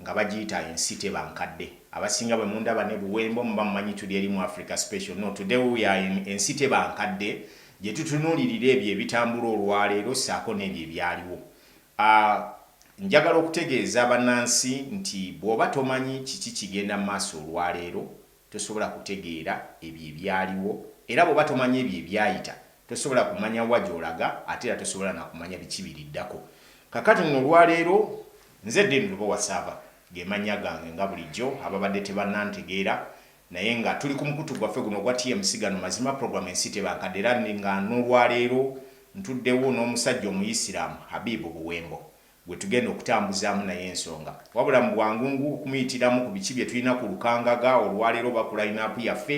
nga bagiyita ensi teba nkadde abasinga bwe mundaba ne buwembo muba mumanyi tuli eri mu Africa special no today we are in ensi teba nkadde gye tutunulirira ebyo ebitambula olwaleero ssaako n'ebyo ebyaliwo a Njagala okutegeeza banansi nti bwoba tomanyi kiki kigenda maaso olwaleero Tosobola kutegeera ebyo ebyaliwo, era bw'oba tomanyi ebyo ebyayita, tosobola kumanya wa gy'olaga, ate era tosobola na kumanya biki biriddako. Kaakati nno, olwa leero, nze Dean Lubowa Saava, ge mannya gange, nga bulijjo, ababadde tebannantegeera, naye nga tuli ku mukutu gwaffe guno ogwa TMC Gano Mazima Program Ensi teba nkadde, era nga n'olwa leero ntuddewo n'omusajja Omuyisiraamu, Habib Buwembo. gwe tugenda okutambuzaamu naye ensonga wabula mu bwangungu okumuyitiramu ku biki bye tulina ku Lukangaga olwaleero oba ku layinaapu yaffe,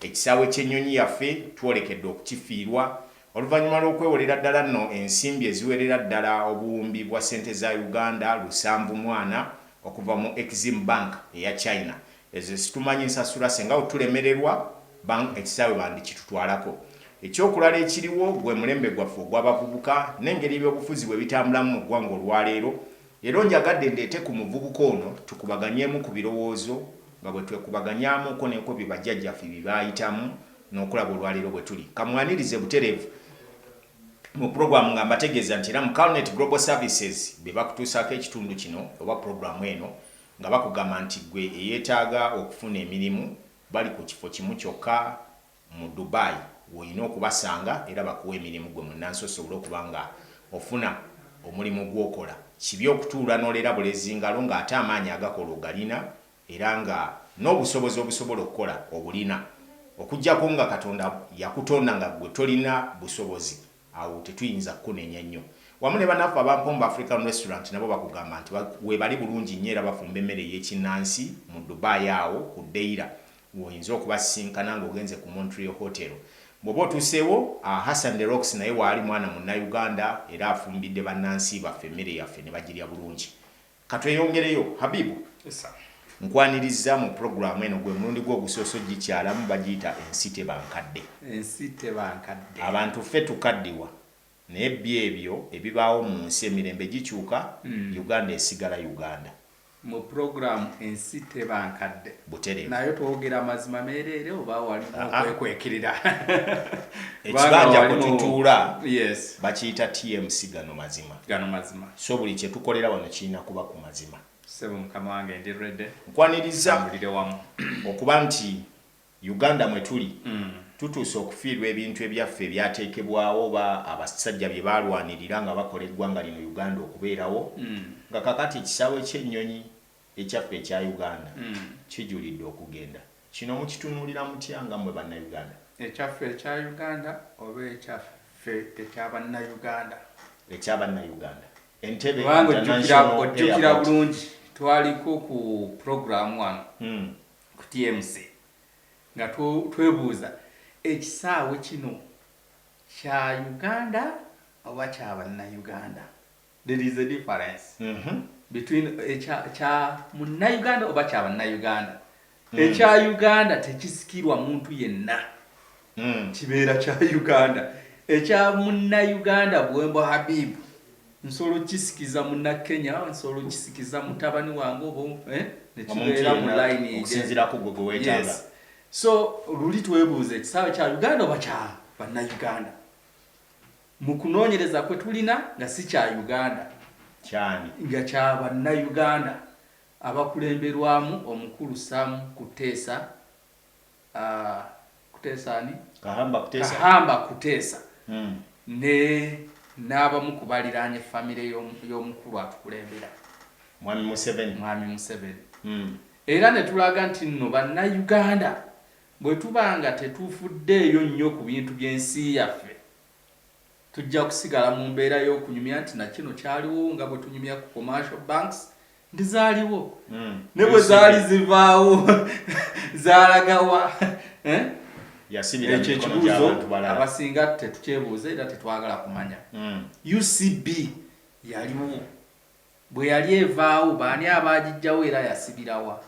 ekisaawe ky'ennyonyi yaffe twolekedde okukifiirwa oluvannyuma lw'okwewolera ddala nno ensimbi eziwerera ddala obuwumbi bwa ssente za Uganda lusanvu mwana okuva mu Exim Bank eya China Eze situmanyi nsasula senga wo tulemererwa bang ekisaawe bandikitutwalako. Ekyokulala ekiriwo gwe mulembe gwaffe ogwa bavubuka nengeri ebyobufuzi bwebitambulamu mu ggwanga olwaleero, leero njagadde ndeete ku muvubuka ono tukubaganyeemu ku birowoozo nga bwetwekubaganyaamuuko neko bye bajjajjaffe bye baayitamu nokulaba olwaleero bwetuli. Kamwanirize butereevu mu program nga mbategeeza nti era mu Calnet Global Services be bakutuusaako ekitundu kino oba program eno. Nga bakugamba nti gwe eyetaaga okufuna emirimu bali ku kifo kimu kyokka mu Dubai w'olina okubasanga era bakuwe emirimu gwe munnansi osobole okuba nga ofuna omulimu gw'okola. Kibi okutuula n'olera bulezi ngalo ng'ate amaanyi agakola ogalina era nga n'obusobozi obusobola okukola obulina okuggyako nga Katonda yakutonda nga gwe tolina busobozi. Awo tetuyinza kukunenya nnyo. Wamu ne banaffe aba Mpombo African Restaurant nabo bakugamba nti webali bulungi nnyo era bafumba emmere ey'ekinnansi mu Dubai awo ku Deira woyinza okubasisinkana nga ogenze ku Montreal Hotel. Bwoba otuseewo, a Hassan the Rocks naye waali mwana munnayuganda era afumbidde bannansi baffe emmere yaffe nebagirya bulungi. Katweyongereyo Habibu Yes sir. Nkwanirizza mu program eno gwe mulundi gwo ogusoose ogikyalamu bagiyita ensi teba nkadde. Ensi teba nkadde. Abantu ffe tukaddiwa naye bby ebyo ebibaawo mu nsi emirembe gikyuka Uganda esigala Uganda. Mu program ensi teba nkadde. Buterevu. Naye twogera mazima meereere oba walimu Aa. okwekwekirira? Kubanga Ekibanja kwe walimu- tutuula Yes. bakiyita TMC gano mazima. Gano mazima. So buli kye tukolera wano kirina kuba ku mazima. Sebo mukama wange ndi ready. Nkwaniriza mbulire wamu okuba nti Uganda mwe tuli mm. tutuuse okufiirwa ebintu ebyaffe ebyateekebwawo oba abasajja bye baalwanirira nga bakola eggwanga lino Uganda okubeerawo mm. nga kakati ekisaawe ky'ennyonyi Ekyaffe ekya Uganda kijulidde okugenda. Kino mukitunuulira mutya nga mmwe Bannayuganda? Ekyaffe ekya Uganda oba ekyaffe ekya Bannayuganda? Ekya Bannayuganda. Entebbe International Airport. Ojjukira bulungi twaliko ku pulogulaamu wano ku TMC nga twebuuza ekisaawe kino kya Uganda oba kya Bannayuganda? There is a difference mm -hmm. between ekya eh, kya munnayuganda oba kya bannayuganda mm. ekya eh, uganda tekisikirwa muntu yenna mm. kibeera kya uganda ekya eh, munnayuganda bwembo habibu nsolo kisikiza muna kenya nsolo kisikiza mutabani wange obo eh? nekibeera mu line okusinzirako gwe gwewetaaga yes. so luli twebuuza ekisaawe kya uganda oba kya bannayuganda Mu kunoonyereza kwe tulina nga si kya Uganda, Ky'ani? nga kya Bannayuganda abakulemberwamu omukulu Sam Kutesa, Kutesa ani? Kahamba Kutesa. Kahamba Kutesa ne n'abamu ku baliraanye famire y'omukulu atukulembera, Mwami Museveni. Mwami Museveni. Era ne tulaga nti nno Bannayuganda Bwe tuba nga tetufuddeeyo nnyo ku bintu by'ensi yaffe, tujja kusigala mu mbeera y'okunyumya nti na kino kyaliwo nga bwe tunyumya ku commercial banks nti zaaliwo mm. ne bwe zaali zivaawo zaalagawa eh? ekyo ekibuuzo abasinga tetukyebuuza era tetwagala kumanya mm. ucb yaliwo Bwe yali evaawo, baani abaagiggyawo era yasibira wa?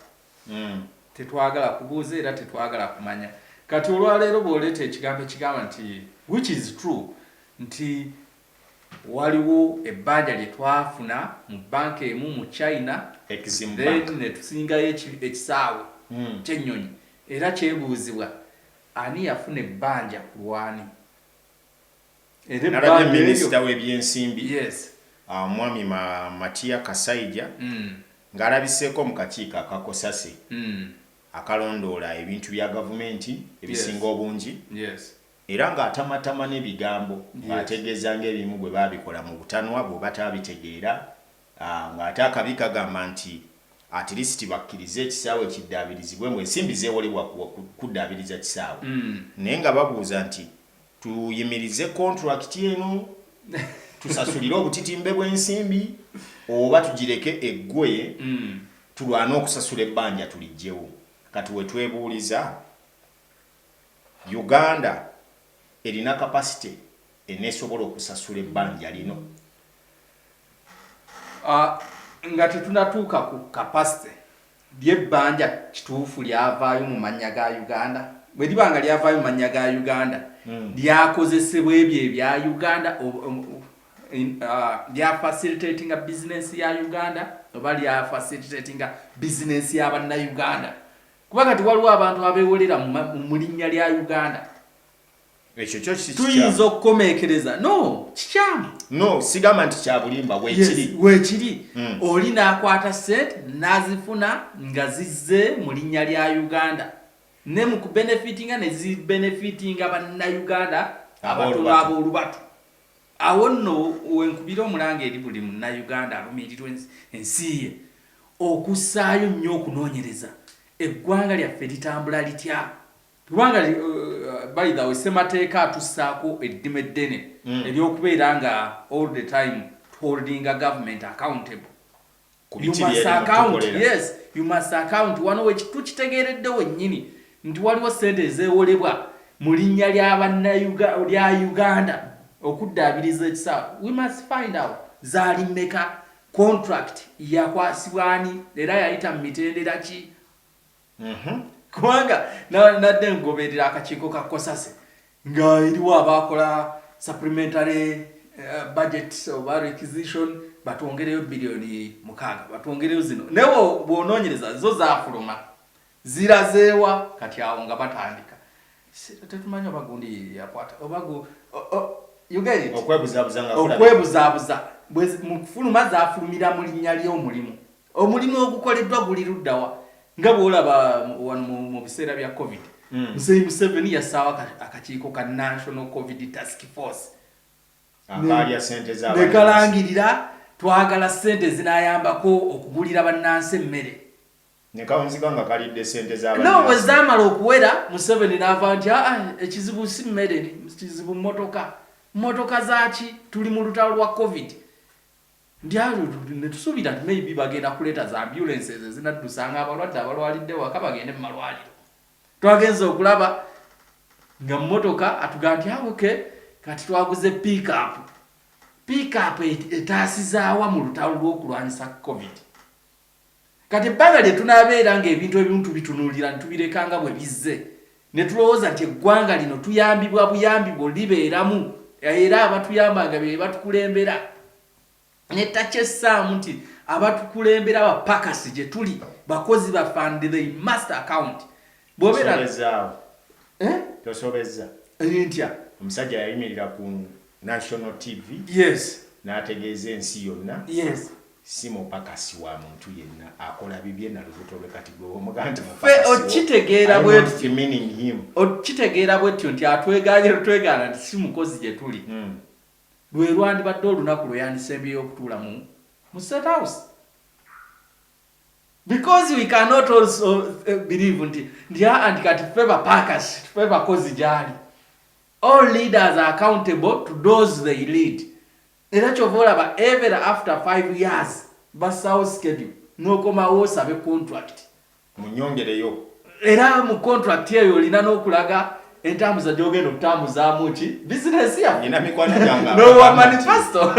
Tetwagala kubuuza era tetwagala kumanya. Kati, olwa leero, bw'oleeta ekigambo ekigamba nti, which is true, nti, Waliwo ebbanja lye twafuna mu bbanka emu mu China, then ne tusingayo eki, ekisaawe ky'ennyonyi, era kyebuuzibwa, Ani yafuna ebbanja ku lw'ani? nalabye minisita w'ebyensimbi ah, omwami Matia Kasaija mm. ng'alabiseeko mu kakiiko akakosase mm. akalondoola ebintu bya gavumenti ebisinga obungi era ng'atamatama n'ebigambo ng'ategeeza ng'ebimu bwe baabikola mu butanwa bwe bataabitegeera Aah nga ate akabi kagamba nti atleast bakkirize ekisaawe kiddaabirizibwe mbu ensimbi zewolebwa kuddaabiriza kisaawe naye nga babuuza nti tuyimirize contract eno tusasulire obutitimbe bwensimbi oba tugireke eggwe tulwane okusasula ebbanja tuliggyewo kati wetwebuuliza Uganda erina capacity enesobola okusasula ebbanja lino? Nga tetunatuuka ku capacity, lyo ebbanja kituufu lyavaayo mu mannya ga Uganda? Bwe liba nga lyavaayo mu mannya ga Uganda, lyakozesebwa ebyo ebya Uganda, lya facilitatinga business ya Uganda oba lya facilitatinga business ya Bannayuganda? kuba kati waliwo abantu abewolera mu linnya lya uganda tuyinza okukomekereza no kikyamu no sigamba nti kyabulimba wekiri wekiri mm. oli nakwata sente nazifuna nga zizze mu linnya lya uganda ne mu kubenefitinga nezibenefitinga bannauganda abatula abolubatu Awo nno wenkubira omulanga eri buli Munnayuganda alumirirwa ensi ye okussaayo nnyo okunoonyereza eggwanga lyaffe litambula litya? Kubanga by the way Ssemateeka atussaako eddima eddene ery'okubeera nga all the time to holdinga government accountable wano wetukitegeeredde wennyini nti waliwo ssente ezewolebwa mu linnya lya uganda okuddaabiriza ekisaawe zaali mmeka contract yakwasibwa ani era yayita mu mitendera ki Mhm. kubanga nadde ngoberera akakiiko ka kosase nga eriwo abaakola supplementary eh, budget oba requisition batwongereyo biliyoni mukaaga batwongereyo zino naye bwonoonyereza zo zafuluma zirazeewa kati awo nga batandika tetumanyi oba gundi yakwata oba okwebuzaabuza mu kufuluma zafulumira mu linnya ly'omulimu Omulimu ogukoleddwa guli ludda wa? Nga bw'olaba wano mu biseera bya Covid, hmm. Muzeeyi Museveni yassaawo akakiiko ka National Covid Task Force ne kalangirira twagala ssente ezinaayambako okugulira bannansi emmere nekawunzika nga kalidde sente zabano bwe zaamala okuwera museveni n'ava nti aa ah, ekizibu si mmere kizibu mmotoka mmotoka zaaki tuli mu lutalo lwa covid Ndyalyo netusuubira nti maybe bagenda kuleeta zi ambulances ezinaddusanga abalwadde abalwalidde ewaka bagende mu malwaliro. Twagenze okulaba nga mmotoka atugamba nti ah, okay kati twaguze pick up. Pick up etaasizaawa mu lutalo lw'okulwanyisa covid? Kati ebbanga lye tunaabeera ng'ebintu ebimu tubitunuulira ne tubireka nga bwe bizze, ne tulowooza nti eggwanga lino tuyambibwa buyambi bwo libeeramu era abatuyamba nga be batukulembera, ne takyessaamu nti abatukulembera bapakasi gye tuli, bakozi baffe and they must account. bwobera Tosobezaawo. eh Tosobezza. eh, ntya Omusajja yayimirira ku National TV yes n'ategeeza ensi yonna yes si mupakasi wa muntu yenna akola bibye na lubuto lwe kati gwe bw'omugamba nti mupakasi Ffe wo, okitegeera I bwe don't tutyo. demeaning him. okitegeera bwetyo nti atwegaanye lutwegaana nti si mukozi gye tuli Mm. lwe lwandibadde olunaku lwe yandisembyeyo okutuula mu mu state house because we cannot also uh, believe nti nti aa nti kati ffe bapakasi ffe bakozi gyali all leaders are accountable to those they lead era kyova olaba ever after five years basawo schedule nokomawo osabe contract munyongereyo era mu contract eyo olina nokulaga entambuza gyogenda okutambuzaamu ki bizinesi yanina mikwano gyangeowa manifesto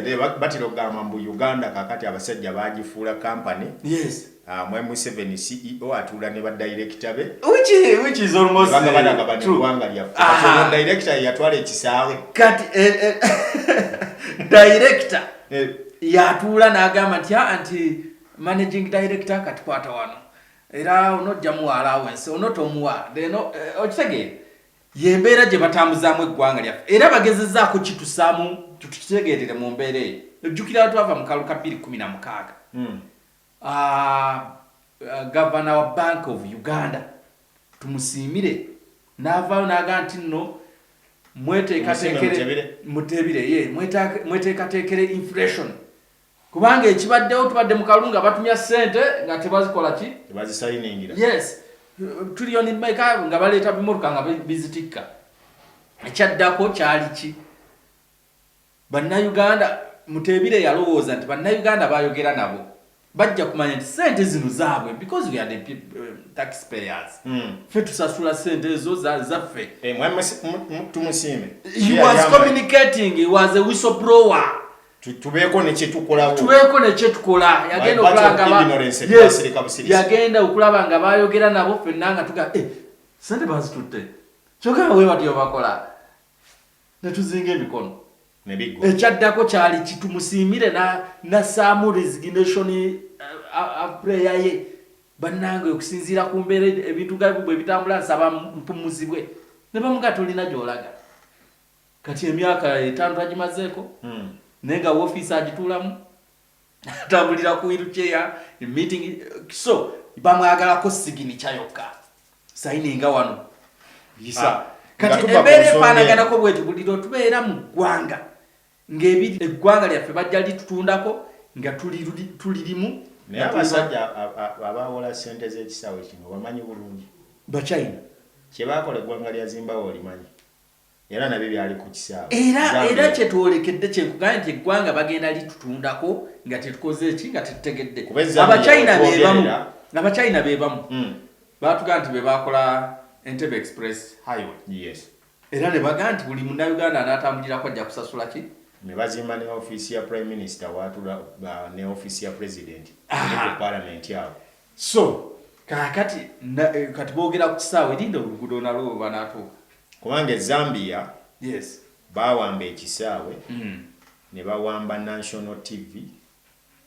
eh. batera okugamba mbu uganda kakati abasajja bagifuula kampany ah, mwe museven ceo atuula ne badirekita be bagabanaabaniwanga lyafedirekita yeyatwala ekisaawe kati eh, eh, direkita yatuula n'agamba nti ah, nti managing director katikwata wano era onojja muwa alawensi onotomuwa deno eh, okitegeera yembeera gye batambuzaamu eggwanga lyaffe era bagezezaako kitusaamu tukitegeerere mu mbeera eyo ojjukira twava mu kalu ka bbiri kumi na mukaaga hmm. ah, ah, gavana wa bank of uganda tumusiimire n'avaayo n'aga nti nno mweteekateekere mweteekateekere inflation kubanga ekibaddewo tubadde mu kalulu nga batumya ssente nga tebazikola ki tebazisayiningira yes tuliyoni meka nga baleeta bimotoka nga bizitikka ekyaddako kyali ki bannayuganda muteebire yalowooza nti bannayuganda bayogera nabo bajja kumanya nti sente zino zaabwe because we are the eh, tax payers mm. fe tusasula sente ezo zaffe eh, tumusiime he was communicating he was a whistle blower tubeeko nekyetukolawo tubeeko nekyetukola yagenda okulaba yagenda okulaba nga bayogera nabo fenna nga tuga eh, sente bazitutte kyoka we batyo bakola netuzinga emikono ekyaddako kyali kitumusiimire nasaamu resignation eh, prayer ye bannange okusinziira ku mbeera ebintu gabwe bwebitambula nsaba mpumuzibwe ne bamuga tulina gyolaga kati emyaka etaano tagimazeeko hmm. naye nga wofiisi agituulamu atambulira ku wiruceya meeting so bamwagalako siginica yokka sayininga wano yisa ah, kati embeera efaanaganako bweti buli lwetubeera mu ggwanga ng'ebiri eggwanga lyaffe bajja litutundako nga tulirimu naye abasajja abaawola ssente z'ekisaawe kino bamanyi bulungi bachina kye baakola eggwanga lya zimbawe olimanyi era nabyo byali ku kisaawe era era kyetwolekedde kyekugambye nti eggwanga bagenda litutundako nga tetukoze eki nga tetutegedde abachina bebamu abachina bebamu hmm. batugaa nti bebakola entebe express highway yes. era nebagaa nti buli munauganda anatambulirako ajja kusasula ki nebazimba ne offiisi ya prime minister watula ne offiisi ya president parliament awo So kakati na, eh, kati bogera ku kisaawe linda oluguudo nalwo lwebanatuuka. Kubanga e Zambia yes. bawamba ekisaawe mm. ne bawamba National TV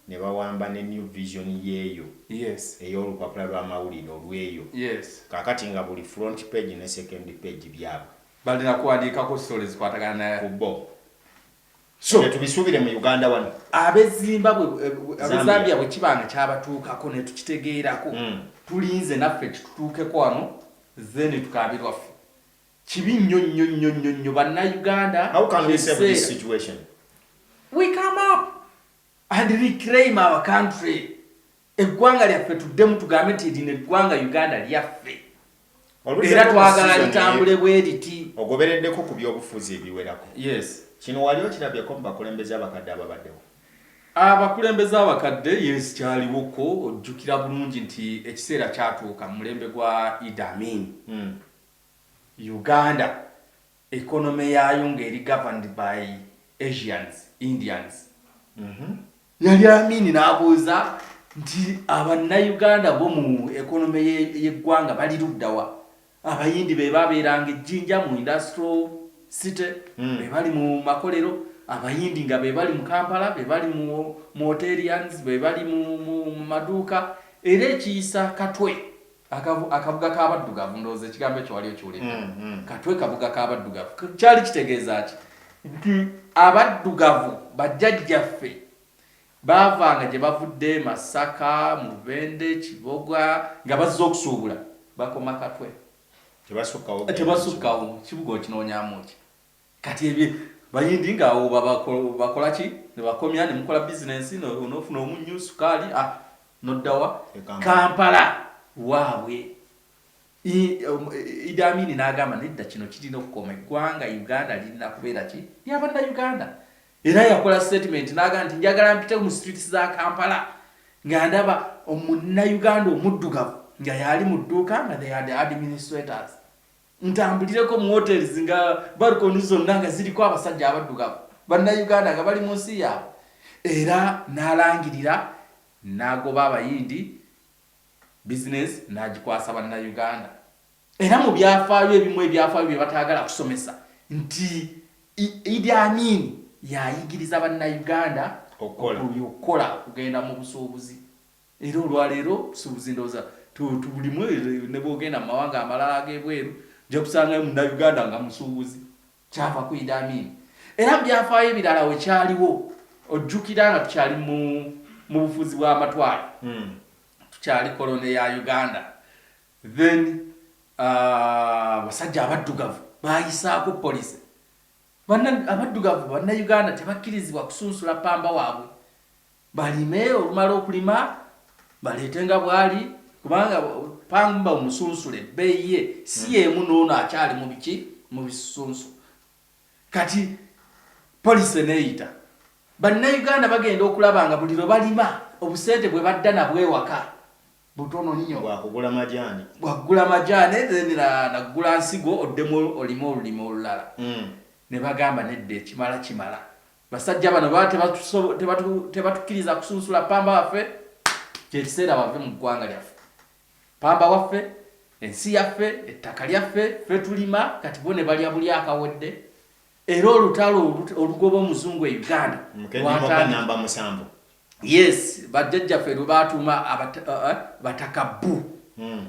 ne bawamba ne New Vision yeeyo yes. ey'olupapula lw'amawulire olweyo yes. kakati nga buli front page ne second page byabwe balina kuwandiikako sole zikwatagana ku bo so tubisuubire mu uganda wano abezimbabwe eh, eh, abezambia bwe kiba nga kyabatuukako ne tukitegeerako mm. tulinze naffe kitutuukeko wano zeni tukabirwaffe kibi nnyo nnyo nnyo nnyo nnyo bannayuganda we come up and reclaim our country Eggwanga lyaffe tuddemu tugambe nti lino eggwanga Uganda lyaffe era twagala litambule bwe liti. Ogobereddeko ku byobufuzi ebiwerako. Yes. Kino wali okirabyeko mu bakulembeze abakadde ababaddewo? Abakulembeze abakadde yes kyaliwoko ojjukira bulungi nti ekiseera kyatuuka mu mulembe gwa Idi Amin. Hmm. Uganda economy yaayo ng'eri governed by Asians, Indians. Mm-hmm. Yali Amini n'abuuza nti abannayuganda bo mu ekonome y'eggwanga bali luddawa? Abayindi be babeeranga ejjinja mu industrial city, hmm. be bali mu makolero, abayindi nga be bali mu Kampala, be bali mu hoterians, be bali mu maduuka, era ekiyisa katwe Akavu, akabuga k'abaddugavu ndowooza ekigambo ekyo wali okiwulidde mm, mm. katwe kabuga k'abaddugavu kyali kitegeeza ki nti abaddugavu bajjajjaffe baavanga gye bavudde masaka mubende kiboga nga bazze okusuubula bakoma katwe tebasukkawo kibuga okinoonyamu ki kati ebye bayindi nga awo bakola ki nebakomya nemukola business nofuna omunyu sukaali ah, noddawa kampala waabwe um, idi amini n'agamba nedda kino kirina okukoma eggwanga uganda lirina kubeera ki lyabanna uganda era yakola statement n'agamba nti njagala mpite mu streets za kampala nga ndaba omunna uganda omuddugavu nga yaali mu dduuka nga they are the administrators ntambulireko mu hotels nga balkoni zonna nga ziriko abasajja abaddugavu bannayuganda nga bali mu nsi yaabwe era n'alangirira n'agoba abayindi bizinensi n'agikwasa bannayuganda era mu byafaayo ebimu ebyafaayo bye bataagala kusomesa nti idi amin yayigiriza bannayuganda okukola okugenda mu busuubuzi Era olwaleero tusuubuzi ndowooza tubulimu nebwogenda mumawanga amalala agebweru ojja kusangayo munnayuganda nga musuubuzi kyava ku Idi Amin era mubyafaayo ebirala wekyaliwo ojjukira nga tukyali mu mubufuzi bwamatwale hmm. tukyali kolone ya Uganda then uh, basajja abaddugavu bayisaako policy abaddugavu bannayuganda tebakkirizibwa kusunsula pamba waabwe balime olumala okulima baleete nga bwali kubanga pangumba omusunsule ebbeeyi ye si hmm. yeemu noono akyali mu biki mu bisunsu kati polisi eneeyita bannayuganda bagenda okulaba nga buli lwe balima obusente bwe badda nabwo ewaka butono nnyo bwakugula majaani bwakugula majaani then naggula nsigo oddemu olime olulima olulala hmm. ne bagamba nedda ekimala kimala Basajja bano baba tebatuso- tebatu- tebatukkiriza kusunsula pamba waffe, kye kiseera bave mu ggwanga lyaffe. Pamba waffe, ensi yaffe, ettaka lyaffe, ffe tulima, kati bo ne balya buli akawedde. Era olutalo olu- olugoba omuzungu e Uganda Mukedde mwaka lwatandika- namba musanvu. yes bajjajjaffe lwe baatuuma abata- uh, uh, bataka bbu Mm.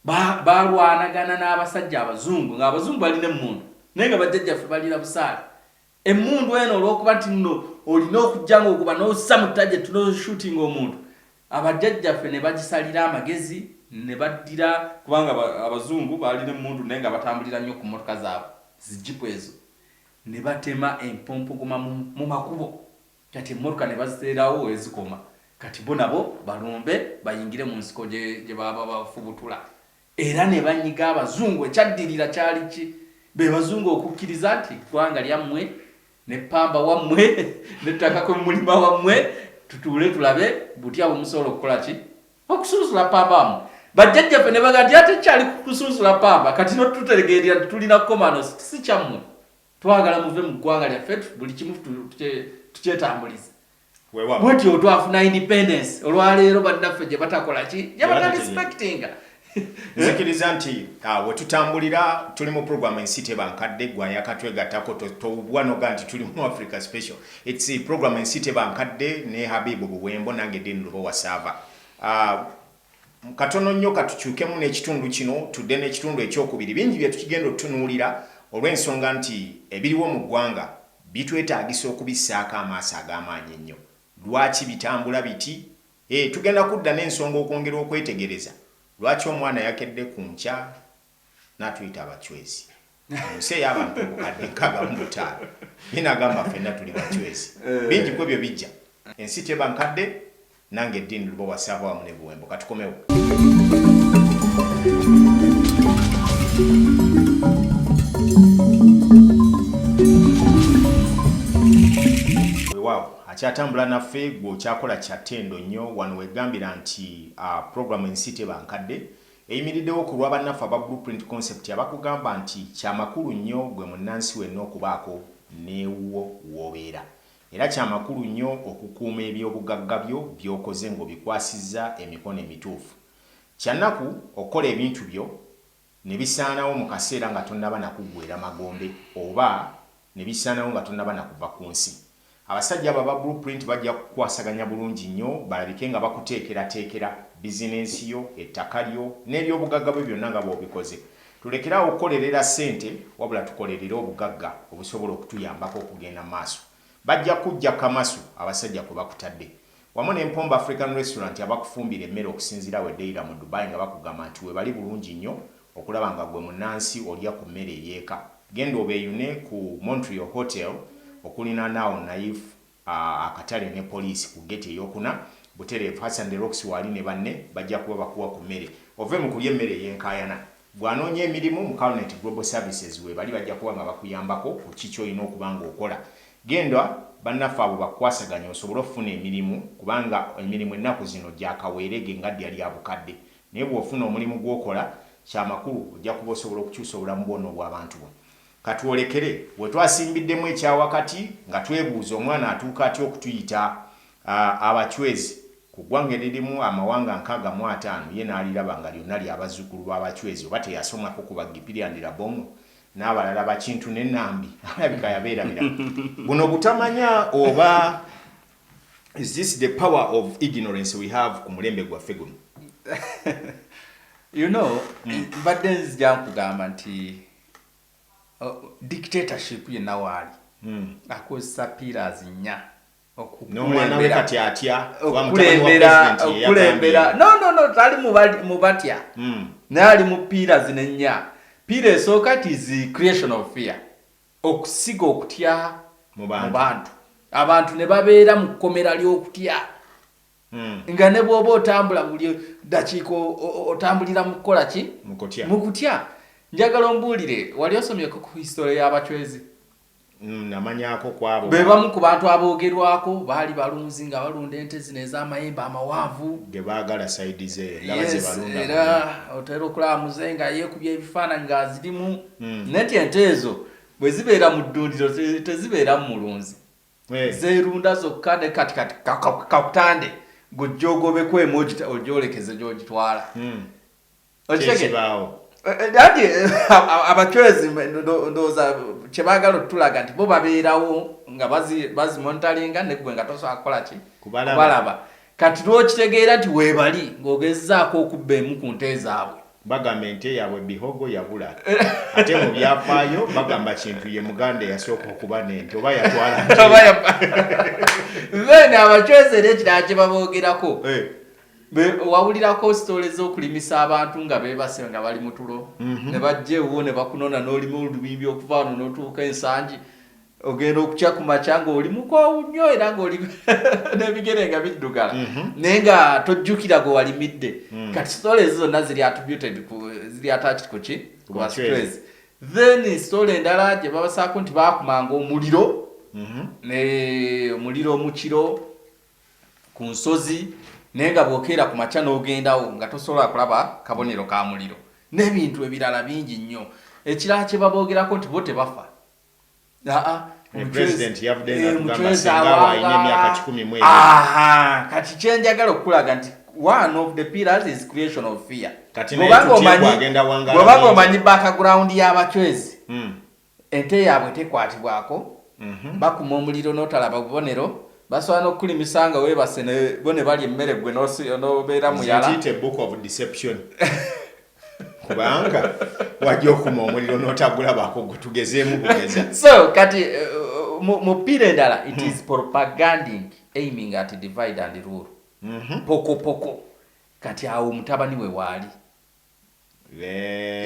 Ba- balwanagana n'abasajja abazungu ng'abazungu balina emmundu naye nga bajjajjaffe balina busaale Emmundu eno olwokuba nti nno olina okujja ng'okuba n'ossa mu target n'oshootinga omuntu, abajjajjaffe ne bagisalira amagezi ne baddira, kubanga Abazungu baalina emmundu naye nga batambulira nnyo ku mmotoka zaabwe zi Jeep ezo, ne batema empompogoma mu makubo kati emmotoka ne baziteerawo we zikoma kati bo nabo balumbe bayingire mu nsiko gye baba bafubutula. Era ne banyiga Abazungu. Ekyaddirira kyali ki? Be Bazungu okukkiriza nti eggwanga lyammwe ne ppamba wammwe n'ettaka kwe mulima wammwe, tutuule tulabe butya bwe musobola okukola ki? Okusunsula ppamba wammwe. Bajjajjaffe ne bagamba nti ate kyali kusunsula ppamba, kati no tutegeerera nti tulina kukomano si kyammwe. Twagala muve mu ggwanga lyaffe buli kimu tukyetambulize. bwetyo otwafuna independence olwaleero bannaffe gye batakola ki gye batarespectinga nzikiriza nti ah, wetutambulira tuli mu program ensi tebankadde gwa yakatwegattako towubwa noga nti tuli mu africa special its program ensi tebankadde ne habibu buwembo nange din lubo wasaava ah, katono nnyo katukyukemu n'ekitundu kino tudde n'ekitundu ekyokubiri bingi byetukigenda otutunuulira olw'ensonga nti ebiriwo mu ggwanga Bitwetaagisa okubissaako amaaso ag'amaanyi ennyo. Lwaki bitambula biti? Ee, tugenda kudda n'ensonga okwongera okwetegereza lwaki omwana yakedde ku nkya n'atuyita abachwezi. Mu nsi ey'abantu obukadde nkaaga mu butaano, nnyina agamba ffenna tuli bachwezi. Bingi ku ebyo bijja. Ensi teba nkadde, Nange Dean Lubowa saava wamu ne Buwembo. Katukomewo. Wewaawo akyatambula naffe gwe okyakola kyattendo nnyo wano wegambira nti a program ensi teba nkadde eyimiriddewo ku lwa bannaffe aba Blueprint Concept abakugamba nti kyamakulu nnyo gwe munnansi wenna okubaako newuwo wobeera Era kya makulu nnyo okukuuma eby'obugagga byo by'okoze ng'obikwasizza emikono emituufu. Kya nnaku okukola ebintu byo ne bisaanawo mu kaseera nga tonnaba na kuggweera magombe oba ne bisaanawo nga tonnaba na kuva ku nsi. Abasajja abo aba Blue Print bajja kukukwasaganya bulungi nnyo balabike nga bakuteekerateekera bizinensi yo, ettaka lyo, n'eby'obugagga byo byonna nga bw'obikoze. Tulekere awo okukolerera ssente wabula tukolerere obugagga obusobola okutuyambako okugenda mu maaso. Bajja kukuggya kamasu abasajja kwe bakutadde. Wamu ne Mpombo African Restaurant abakufumbira emmere okusinziira awo e Deira mu Dubai nga bakugamba nti weebali bulungi nnyo okulaba nga ggwe munnansi olya ku mmere ey'eka. Genda obeeyune ku Montreal Hotel okulinaana awo Naif akatale ne poliisi ku geti eyokuna butereevu Hassan De Rocks waali ne banne bajja kuba bakuwa ku mmere ove mu kulya emmere ey'enkaayana. Bw'anoonya emirimu mu Calnet Global Services weebali bajja kuba nga bakuyambako ku ki ky'olina okuba ng'okola. Genda bannaffe abo bakukwasaganye osobole okufuna emirimu kubanga emirimu ennaku zino gya kaweerege nga ddya lya bukadde naye bw'ofuna omulimu gw'okola kya makulu ojja kuba osobola okukyusa obulamu bwo n'obw'abantu bo. Ka twolekere we twasimbiddemu ekya wakati nga twebuuza omwana atuuka atya okutuyita Abachwezi ku ggwanga eririmu amawanga nkaaga mu ataano ye n'aliraba nga lyonna lya bazzukulu ba Bachwezi oba teyasomako ku Baggipirya Ndirabong'o n'abalala ba Kintu ne Nambi? Alabika yabeerabira buno butamanya oba Is this the power of ignorance we have ku mulembe gwaffe guno? You know, mbadde nzija nkugamba nti uh, dictatorship yenna waali hmm. akozesa pillars nnya okukulembera no no no tali mu batya hmm. naye ali mu piira zino ennya piira esooka tizi creation of fear okusiga okutya mu bantu abantu ne babeera mu kkomera ly'okutya Hmm. nga ne bwoba otambula buli dakiika otambulira mu kukola ki mu kutya njagala ombuulire wali osomyeko ku hisitole y'abacwezi hmm, namanyako kwabo be bamu ku bantu aboogerwako baali balunzi nga balunda ente zino ez'amayembe amawanvu ge baagala saidi ze era otera okulaba muze nga yeekubya ebifaananyi ng'azirimu hmm. naye nti ente ezo bwe zibeera mu ddundiro tezibeeramu mulunzi hey. Eh. zerunda zokka ne kati kati kakutande ka, ka, gujja ogobeko emu ogyolekeze gyogitwala hmm. okitegeawo eh, eh, dadi eh, abacwezi ndowooza kyebagala otulaga nti bo babeerawo nga bazimontalinga negwe nga tosobola kukola ki kubalaba kati lwokitegeera nti webali ng'ogezaako okubba emu ku nte zaabwe Bagamba ente yabwe bihogo yabula ate mu byafaayo bagamba kintu ye muganda eyasooka okuba nente oba yatwala then abacwezi era ekirala kye baboogerako eh. wawulirako sitole z'okulimisa abantu nga bebase nga bali mu tulo mhm. ne bajja ewuwo ne bakunona n'olima olubimbi okuva wano n'otuuka ensangi ogenda okukya ku makya ng'oli mukoowu nnyo era ng'oli n'ebigere nga biddugala mhm. naye nga tojjukira gwe walimidde mm. kati sitole ezo zonna ziri attributed ziri attached ku ki ku bastress then sitole endala gye babasaako nti baakumanga omuliro mhm. ne omuliro mu kiro ku nsozi naye nga bwokeera ku makya n'ogendawo nga tosobola kulaba kabonero ka muliro n'ebintu ebirala bingi nnyo ekirala kye baboogerako nti bo tebafa kati kyenjagala okukulaga nti one of the pillars is creation of fear bwebanga omanyi background y'abacwezi hmm. ente yaabwe tekwatibwako mhm. bakuma omuliro n'otalaba bubonero basobola n'okukulimisa nga webase bo ne balya emmere gwe n'obeera muyala kubanga wajja okuma omuliro n'otagulabako gwe tugezeemu bugeza so kati uh, mu pira endala it is hmm. propaganding aiming at divide and rule mhm. poko poko kati awo mutabani we waali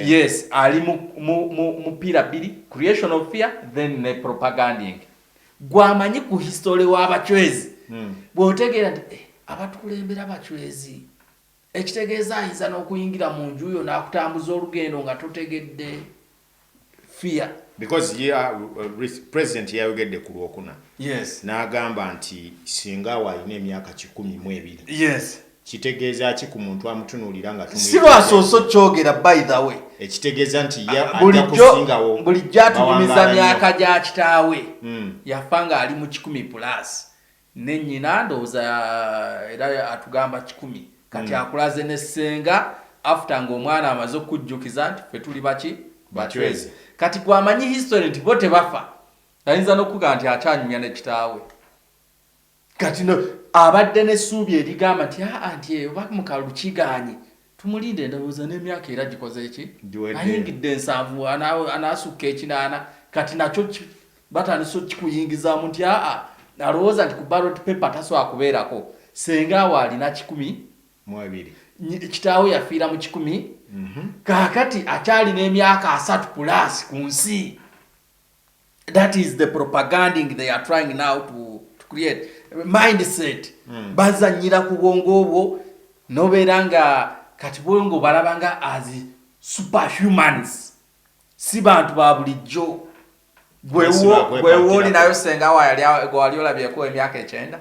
yes ali mu pira bbiri creation of fear then ne propaganding gwamanyi ku history w'abacwezi hmm. bw'otegeera nti eh, abatukulembera abacwezi Ekitegeeza ayinza n'okuyingira mu nju yo n'akutambuza olugendo nga totegedde. Fear. Because ye uh, uh, president yayogedde ku lwokuna yes. n'agamba nti singa awo alina emyaka kikumi mu ebiri yes. kitegeeza ki ku muntu amutunuulira nga si lwasoose okyogera by the way ekitegeeza nti ah, bulijjo bulijjo atulumiza myaka gya kitaawe hmm. yafa ng'ali mu kikumi pulasi ne nyina ndowoza era atugamba kikumi kati mm. akulaze ne senga after nga omwana amaze okujjukiza nti fe tuli baki bachwezi kati gwamanyi history nti bo tebafa ayinza nokuga nti akyanyumya ne kitaawe kati no abadde ne suubi erigamba nti aa ah, nti eyo eh, bamukalu kiganye Tumulinde ndowooza n'emyaka era gikoze ki? Ayingidde nsanvu anaasukka ekinaana kati nakyo batandise okukiyingizaamu nti aa alowooza nti ku ballot paper tasobola kubeerako. Ssenga we alina kikumi mu ebiri, kitaawe yafiira mu kikumi, mhm. kaakati akyalina emyaka asatu pulaasi ku nsi. that is the propaganding they are trying now to, to create mindset mm. bazanyira ku bwongo obwo nobeera nga kati bwongo balaba nga as superhumans si bantu ba bulijjo gwewooli nayo senga wali olabyeko emyaka ekyenda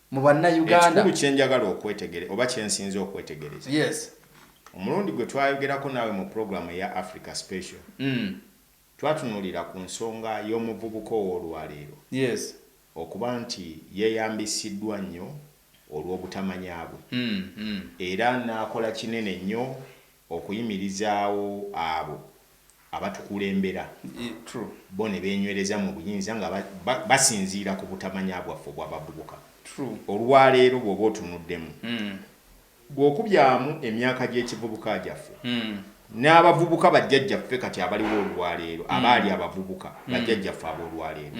mu bannayuganda. Ekikulu kye njagala okwetegere oba kye nsinze okwetegereza. Yes. Omulundi gwe twayogerako naawe mu pulogulaamu eya Africa Special. Mm. Twatunuulira ku nsonga y'omuvubuka ow'olwaleero. Yes. Okuba nti yeeyambisiddwa nnyo olw'obutamanya bwe. Mm, mm. Era n'akola kinene nnyo Okuyimirizaawo abo abatukulembera, bo ne beenywereza mu buyinza nga basinziira ku butamanya bwaffe obw'abavubuka olwaleero bw'oba otunuddemu, bw'okubyamu emyaka gy'ekivubuka gyaffe, n'abavubuka bajjajjaffe kati abaliwo olwaleero abaali abavubuka bajjajjaffe ab'olwaleero,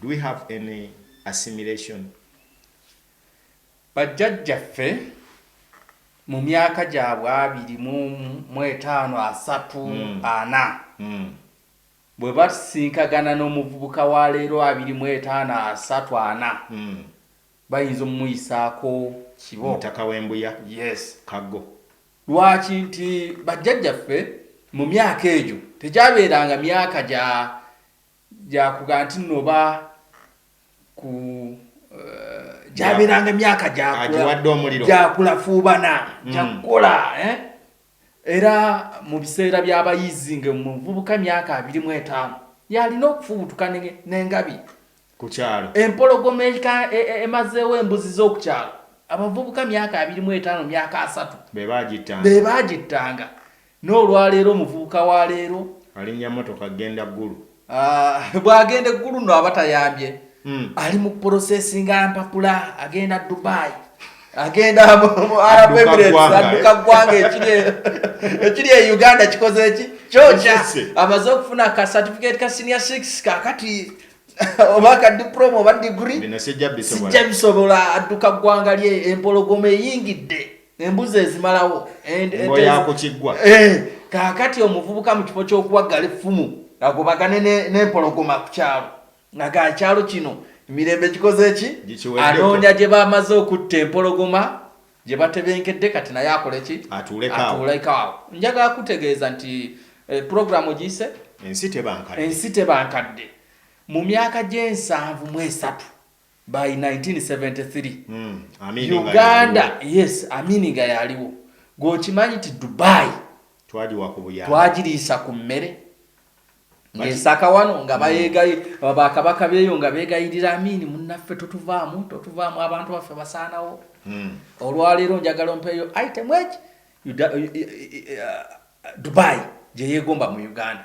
do we have any assimilation? Bajjajjaffe mu myaka gyabwe abiri mu mu etaano, asatu, ana, bwe basisinkagana n'omuvubuka wa leero abiri mu etaano, asatu, ana, bayinza omuyisaako kibo. Omutaka w'Embuya, Yes. Kaggo. Lwaki? Nti bajjajjaffe mu myaka egyo tegyabeeranga myaka gya Gyakuga nti nno oba ku eh, gyabeeranga emyaka gyakulafuubana hmm. gyakukola eh? era mu biseera by'abayizi nga muvubuka myaka abiri mu etaano yalina okufubutuka n'engabi ku kyalo empologoma e, e, emazeewo embuzi z'okukyalo abavubuka myaka abiri mu etaano myaka asatu be baagittanga N'olwaleero omuvubuka wa leero. Alinnya motoka kgenda Gulu. Aah bwagenda e Gulu no aba tayambye. Ali mu processinga mpapula agenda Dubai. Agenda mu Arab Emirates adduka ggwanga ekiri ekiri e Uganda kikoze eki? Kyoja amaze okufuna ka certificate ka senior 6 kakati oba ka diploma oba degree. Bino sijja bisobola. Sijja bisobola adduka ggwanga lye empologoma eyingidde. embuzi ezimalawo yakukiggwa eh, kaakati omuvubuka mu kifo ky'okuwaggala effumu agobagane n'empologoma ku kyalo nga ga kyalo kino emirembe gikoze eki anoonya gye bamaze okutta empologoma gye batebenkedde kati naye akola eki atuulekaawo njagala kutegeeza nti eh, puroguramu giyise ensi tebankadde mu myaka gy'ensanvu mu esatu by 1973 uganda yes aminiga yaliwo gweokimanyi ti dubai twagiriisa ku mmere ngaesaka wano nga bayegayi hmm. bakabaka beeyo nga begayirira amini munaffe totuvaamu totuvaamu abantu baffe basaanawo hmm. olwaleero njagala ompeeyo item eki uh, dubai gyeyegomba mu uganda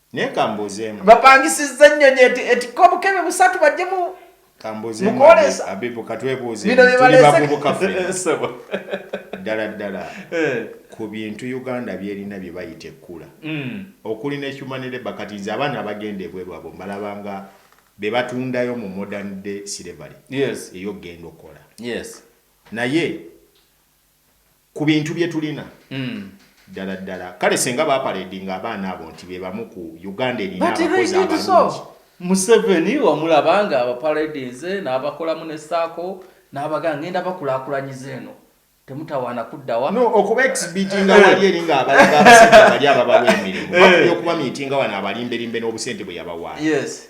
Naye kambuuzeemu. Bapangisizza ennyonyi eti etikka obukebe busatu bajje mu kambuuzeemu mukwolesa. Abibu katwebuuze Bino bye tuli baleese- bavubuka ffe Ssebo. ddala ddala Eh. ku bintu Uganda byerina bye bayita ekkula Mm. okuli ne human labour kati nze abaana abagenda ebweru abo mbalaba nga be batundayo mu modern day slavery Yes. ey'okugenda okukola Yes. naye ku bintu bye tulina hmm. ddala ddala kale senga baparedinga abaana abo nti be bamu ku uganda erina abakozi abalungi museveni wamulaba nga abaparedinze n'abakolamu ne saako n'abaga ngenda bakulakulanyiza eno temutawaana kuddawa no okuba exhibitinga eh. wali eri nga abalaga abasajja bali ababawa emirimu eh. bakuba okuba miitinga wano abalimberimbe n'obusente bwe yabawaayo yes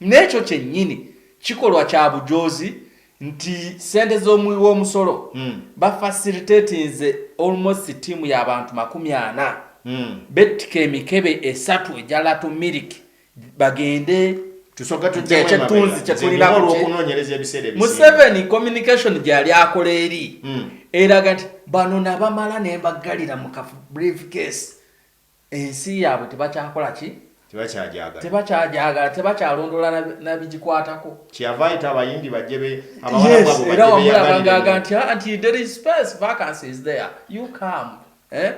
N'ekyo kyennyini kikolwa kya bujoozi nti ssente z'omuwi w'omusolo ba facilitatinze almost ttiimu ya bantu makumi ana bettika emikebe esatu egya Lato Milk bagende Tusooke tujjemu emabega. Ky'ekyetunzi kye Nze tulina ndina ku kye. olw'okunoonyereza ebiseera ebisinga. Museveni communication gye yali akola eri eraga nti bano nabamala ne mbaggalira mu ka briefcase. Ensi yaabwe tebakyakola ki? Tebakyagyagala. Tebakyagyagala, tebakyalondoola na bigikwatako. Kyeyava ayita Abayindi bajje be, Abawarabu abo bajje beyagalire. Yes, era wamulaba nga aga nti, ah, nti there is space, vacancy is there, you come. Eh?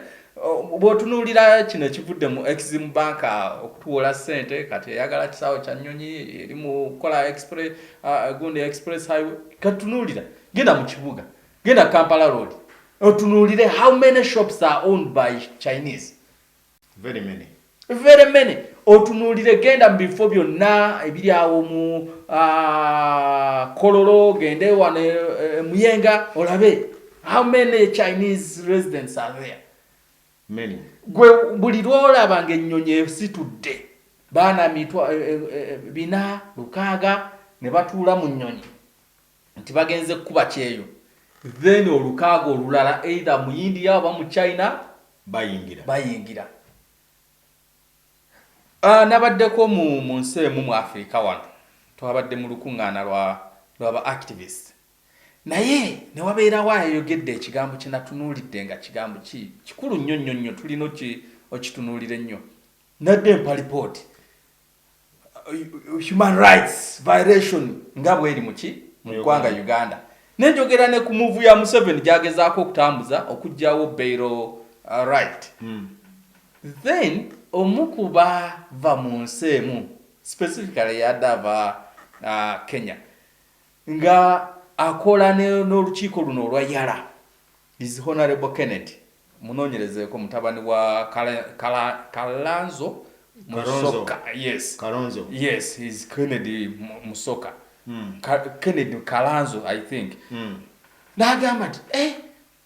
Bw'otunuulira kino ekivudde mu Exim Bank uh, okutuwola ssente kati eyagala kisaawe kya nnyonyi eri mu kukola uh, Gundi Express Highway, katunuulira genda mu kibuga Genda Kampala Road otunuulire how many shops are owned by Chinese. Very many. Very many. Otunuulire genda mu bifo byonna ebiri awo mu ah, Kololo, gende wano e, e, Muyenga olabe how many Chinese residents are there. Many. Gwe buli lwolaba ng'ennyonyi esitudde baana mitwa e, bina lukaaga ne batuula mu nnyonyi. nti bagenze kukuba kyeyo then olukaaga olulala either mu India oba mu China bayingira bayingira Uh, nabaddeko mu mu nsi emu mu Afrika wano twabadde mu lukuŋŋaana lwa lwa ba activist naye ne wabeerawo ayayogedde ekigambo kye natunuulidde nga kigambo ki kikulu nnyo nnyo nnyo tulina okitunuulira ennyo nadde empalipooti human rights violation nga bweri muki mu ggwanga Uganda nenjogera ne ku muvu ya Museveni gyagezaako okutambuza okugyawo bairo uh, right mm. then omu kubava mu nsi emu specifically yadava uh, Kenya nga akola n'olukiiko luno olwa yala is honorable Kennedy Munoonyerezeeko mutabani wa Kalanzo Musoka. Yes. Karonzo. Yes, he's Kennedy Musoka. Mm. Kennedy Kalanzo, I think. Mm. N'agamba nti, eh,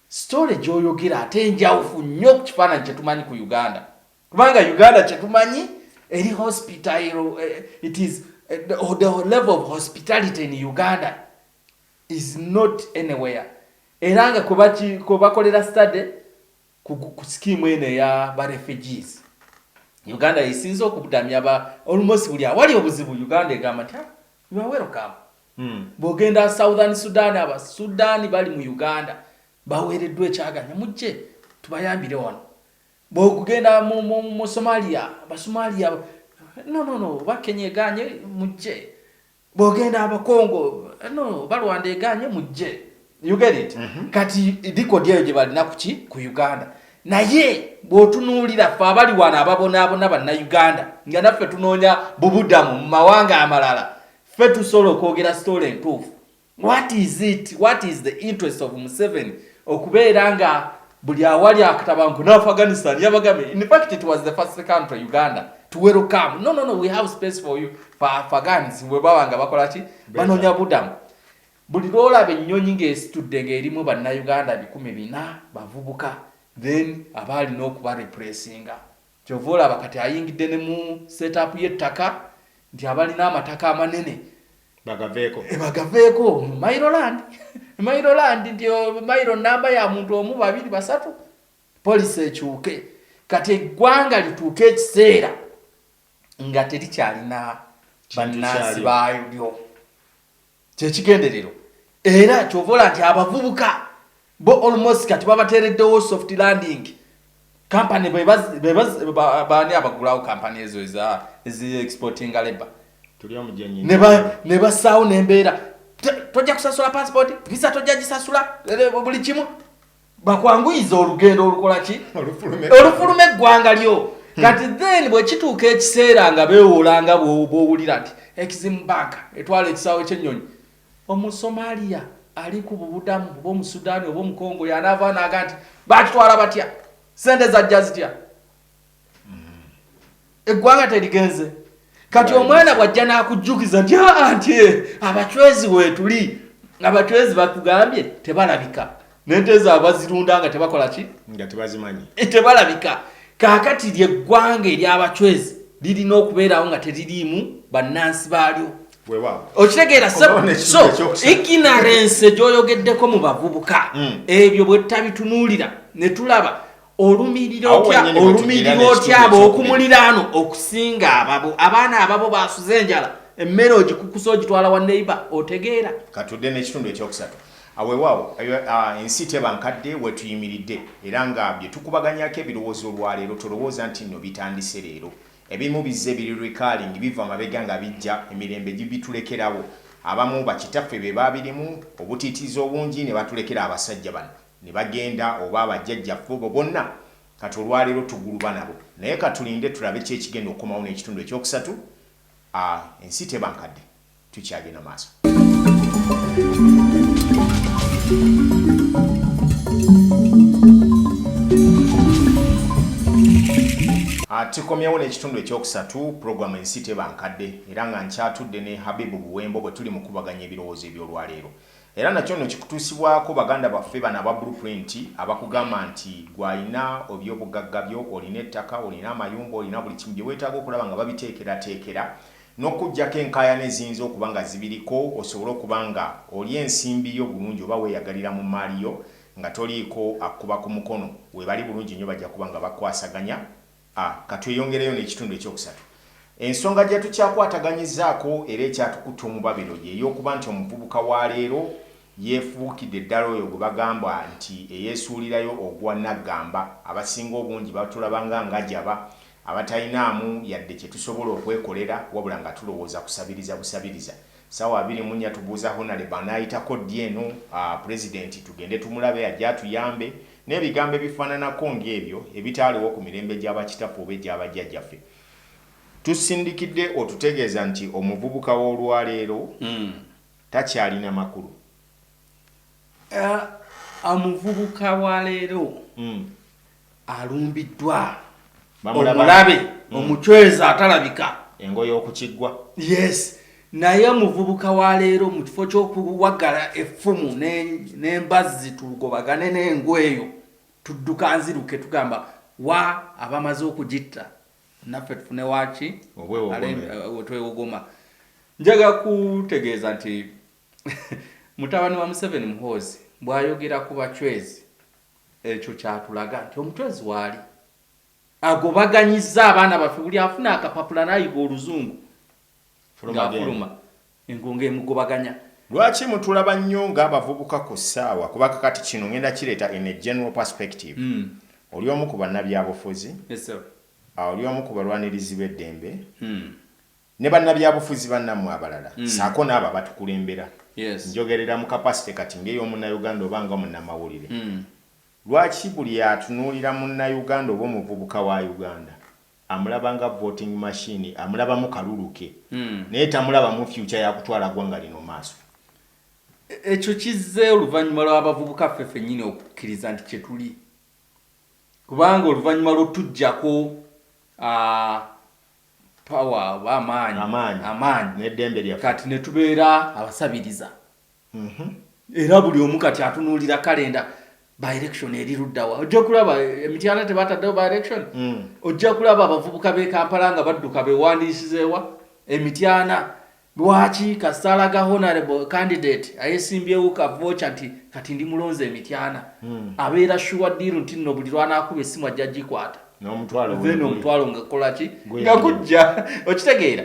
story gy'oyogera ate njawufu nnyo ku kifaananyi kye tumanyi ku Uganda. Kubanga Uganda kye tumanyi eri hospital, eh, it is eh, the, the level of hospitality in Uganda. is not anywhere era nga kwebaki kwebakolera study ku ku scheme eno eya ba refugees Uganda yesinze okubudamya ba almost buli awali obuzibu Uganda egamba nti ah, you are welcome mm. bwogenda Southern Sudan aba Sudan bali mu Uganda baweereddwa ekyaganya mujje tubayambire wano bwokugenda mu, mu, mu Somalia Basomaliya no no no bakenya eganye mujje bwogenda abakongo no balwanda eganye mujje you get it mm -hmm. kati dikodi eyo gye balina kuki ku uganda naye bw'otunuulira ffe abali wano ababonaabona bannayuganda nga naffe tunoonya bubudamu mu mawanga amalala ffe tusobola okwogera sitoola entuufu what is it what is the interest of museven okubeera nga buli awali akatabanku nafe afghanistan yabagambye in fact it was the first country uganda to welcome no no no we have space for you for afghans we baba nga bakola ki banonya budamu buli lwolaba ennyonyi ng'esitudde ng'erimu bannayuganda bikumi bina bavubuka then abaalina okubarepressinga Kyova olaba kati ayingidde ne mu set up ye ttaka nti abalina amataka amanene bagaveeko e bagaveeko mailo land mailo land nti mailo namba ya muntu omu babiri basatu polisi ekyuke kati eggwanga lituuke ekiseera nga terikyalina bannansi baalyo kyekigenderero era kyovola nti abavubuka bo almost kati babatereddewo soft landing kampani bani abagulawo kampani ezo ezi exportinga labor ne basaawo nembeera tojja kusasula passport visa tojja gisasula buli kimu bakwanguyiza olugendo olukola ki olufuluma eggwanga lyo hmm. kati then bwe kituuka ekiseera nga beewoola nga bw'owulira nti eximu banka etwala ekisaawe ky'ennyonyi omusomaliya ali ku bubudamu oba omusudaani oba omukongo yanaava naaga nti bakitwala batya sente zajja zitya eggwanga terigenze kati omwana bwajja n'akujjukiza nti anti ah, ah, eh, abacwezi weetuli abacwezi bakugambye tebalabika nente ezo abazirunda nga tebakola ki nga tebazimanyi eh, tebalabika kaakati lyeggwanga ery'abacwezi lirina okubeerawo nga teririimu bannansi baalyo okitegeera ignorance gyoyogeddeko mu bavubuka hmm. ebyo bwe tutabitunuulira ne tulaba olumirira otya olumirira otya ab'okumuliraano okusinga ababo abaana ababo basuze enjala emmere ogikukusa ogitwala wa neiba otegeera katudde n'ekitundu ekyokusatu awewaawo ensi teba nkadde wetuyimiridde era nga bye tukubaganyako ebirowoozo olwaleero tolowooza nti nno bitandise leero ebimu bizze biri recalling biva mabega nga bijja emirembe gibitulekerawo abamu bakitaffe be baabirimu obutiitiizi obungi ne batulekera abasajja bano Ne bagenda, oba bajjajjaffe, obo bonna, kati olwa leero tuguluba nabo. Naye ka tulinde tulabe ki ekigenda okukomawo n'ekitundu eky'okusatu. A, ensi teba nkadde. Tukyagenda maaso. A, tukomyewo n'ekitundu eky'okusatu, programu Ensi Teba Nkadde, era nga nkyatudde ne Habib Buwembo bwe tuli mu kukubaganya ebirowoozo eby'olwa leero. Era nakyo nno kikutuusibwako baganda baffe bano aba Blue Print abakugamba nti ggwe alina eby'obugagga byo, olina ettaka, olina amayumba, olina buli kimu bye weetaaga okulaba nga babiteekerateekera n'okukuggyako enkaayana eziyinza okuba nga zibiriko osobole okuba nga olya ensimbi yo bulungi oba weeyagalira mu mmaali yo nga toliiko akukuba ku mukono. Weebali bulungi nnyo bajja kuba nga bakwasaganya. A. Ka tweyongereyo n'ekitundu eky'okusatu. Ensonga gy'etukyakwataganyizaako era ekyatukutte omubabiro y'ey'okuba nti omuvubuka wa leero yeefuukidde ddala oyo gwe bagamba nti eyeesuulirayo ogwa naggamba. Abasinga obungi batulaba nga ngajaba abatalinaamu yadde kye tusobola okwekolera wabula nga tulowooza kusabiriza busabiriza. Ssaawa abiri mu nnya tubuuza Honalebo anaayitako ddi eno Pulezidenti tugende tumulabe ajje atuyambe. N'ebigambo ebifaananako ng'ebyo ebitaaliwo ku mirembe gya bakitaffe oba egya bajjajjaffe, tusindikidde otutegeeza nti omuvubuka w'olwaleero takyalina makulu. Omuvubuka wa leero alumbiddwa. omulabe mm. omucwezi atalabika engoye okukiggwa yes naye omuvubuka wa leero mu kifo ky'okuwagala effumu n'embazzi tugobagane n'engu eyo tudduka nziruke tugamba wa abamaze okugitta naffe tufune waki wetwewogoma eh, njaga kutegeeza nti mutabani wa museveni muhoozi bw'ayogera ku bacwezi ekyo kyatulaga nti omucwezi waali agobaganyizza abaana baffe buli afuna akapapula nayiga oluzungu ngafuluma engonga emugobaganya lwaki mutulaba nnyo ng'abavubuka ku ssaawa kuba kakati kino ngenda kireeta in a general perspective mm. oli omu ku bannabyabufuzi yes, oli omu ku balwanirizi b'eddembe mm. ne bannabyabufuzi bannammwe abalala mm. saako n'abo abatukulembera yes. njogerera mu kapasite kati ng'ey'omunnayuganda oba nga munnamawulire mm. lwaki buli atunuulira munnayuganda oba omuvubuka wa uganda amulaba nga voting machine amulabamu kaluluke mm. naye tamulaba mu fyuca yakutwala ggwanga lino maaso ekyo kizze oluvannyuma lw'abavubuka ffe fennyini okukkiriza nti kye tuli kubanga oluvannyuma lw'otujjako uh, power oba amaanyi Amaanyi. amaanyi N'eddembe lyaffe. kati ne tubeera abasabiriza Mhm. era buli omu kati atunuulira kalenda by election eri luddawa ojja kulaba eh, emityana tebataddewo by election Mm. ojja kulaba abavubuka b'e kampala nga badduka bewandiisizeewa emityana Lwaki kasaala ga honorable candidate ayesimbyewo ka vocha nti kati ndi mulonze emityana mm. abeera shuwa diiru nti nno buli lwanakuba essimu ajja gikwata then omutwalo nga kolaki nga gujja okitegeera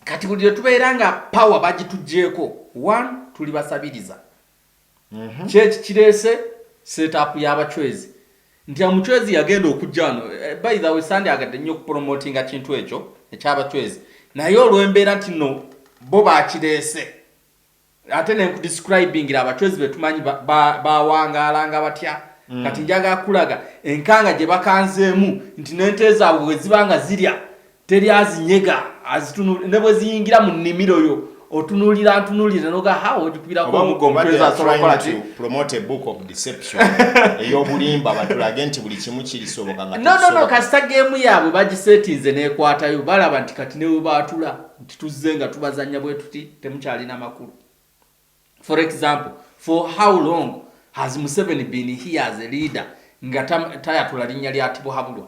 kati buli lwetubeera nga power bagitugyeko one tuli basabiriza Mhm. kyeki kireese setup y'abachwezi nti amuchwezi yagenda okujja wano eh, by the way sandi agadde nnyo okupromotinga kintu ekyo ekyabachwezi naye olw'embeera nti no bo bakireese ate nenkudescribingira abachwezi betumanyi bawangaalanga ba, ba batya mm. kati njaga kulaga enkanga gye bakanzeemu nti n'ente zaabwe bwe ziba nga zirya teri azinyega azitunula ne bwe ziyingira mu nnimiro yo otunulira ntunulira noga how ojikubirako eyobulimba batulage nti buli kimu kirisoboka nga no no no kasita gemu yaabwe bagisetinze nekwatayo balaba nti kati newe baatula nti tuzze nga tubazanya bwe tuti temukyalina makulu for example for how long has museveni been here as a leader nga tayatula linnya lya tibuhabulwa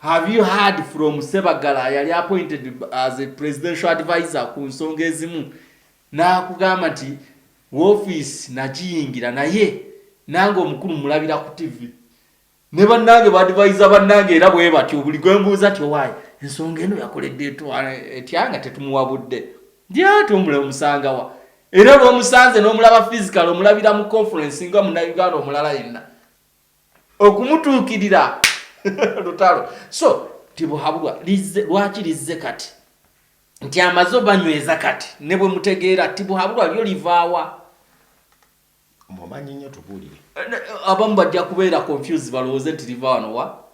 Have you heard from Sebagala yali appointed as a presidential advisor ku nsonga ezimu n'akugamba nti woofiisi nagiyingira naye nange omukulu mulabira ku tivi ne bannange baadivaiza bannange era bwe batyo buli gwe mbuuza ti owaayi ensonga eno yakoledde etya nga tetumuwabudde ndyati omula omusangawa era lwomusanze n'omulaba physical omulabira mu conference nga munauganda omulala yenna okumutuukirira lutalo so tibuhabulwa lizze lwaki lizze kati nti amaze obanyweza kati ne bwe mutegeera tibuhabulwa lyo livaawa mumanyi nnyo tubuulire abamu bajja kubeera confuse balowooze nti liva wano wa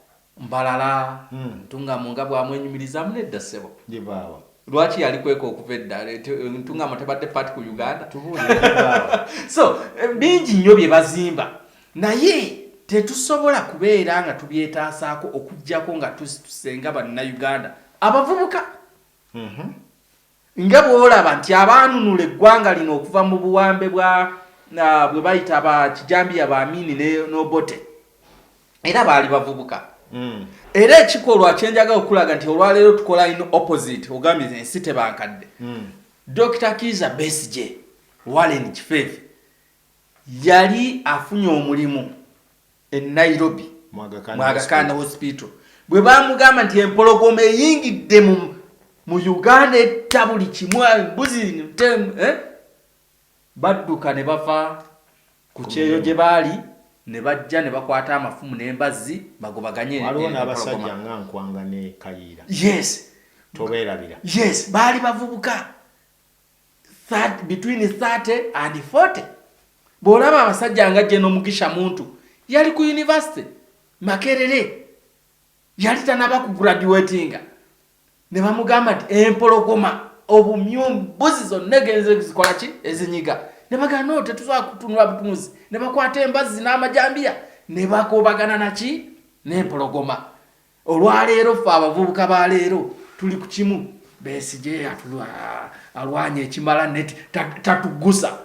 Mbarara, Ntungamo nga bw'amwenyumirizaamu nedda ssebo. Ye baaba. Lwaki yalikweka okuva edda? Ntungamo tebadde part ku Uganda? Tubuulire ye baaba. So bingi nnyo bye bazimba naye tetusobola kubeera nga tubyetaasaako okuggyako nga tusituse nga Bannayuganda abavubuka. Nga bw'olaba nti abaanunula eggwanga lino okuva mu buwambe bwa bwe bayita ba kijambiya ba Amini ne n'Obote era baali bavubuka mm. era ekikolwa kye njagala okulaga nti olwaleero tukola in opposite ogambye nti ensi tebankadde mm. Dr. Kiza Besigye Warren Kifeefe yali afunye omulimu e Nairobi mu Aga Khan Hospital bwe baamugamba nti empologoma eyingidde mu Uganda etta buli kimu embuzi eh? badduka ne bava ku kyeyo gye baali ne bajja ne bakwata amafumu n'embazzi bagobaganye waliwo n'abasajja nga nkwanga ne kayiira yes tobeerabira yes baali bavubuka between 30 and 40 bwolaba abasajja nga jeno mugisha muntu yali ku university makerere yali tanaba ku graduatinga ne bamugamba nti empologoma obumyu mbuzi zonna egenze zikola ki ezinyiga ne bagamba no tetusobola kutunula butunuzi ne bakwata embazzi n'amajambiya ne bakobagana naki n'empologoma Olwaleero ffe abavubuka ba leero tuli ku kimu, Besigye alwanya ekimala net tatugusa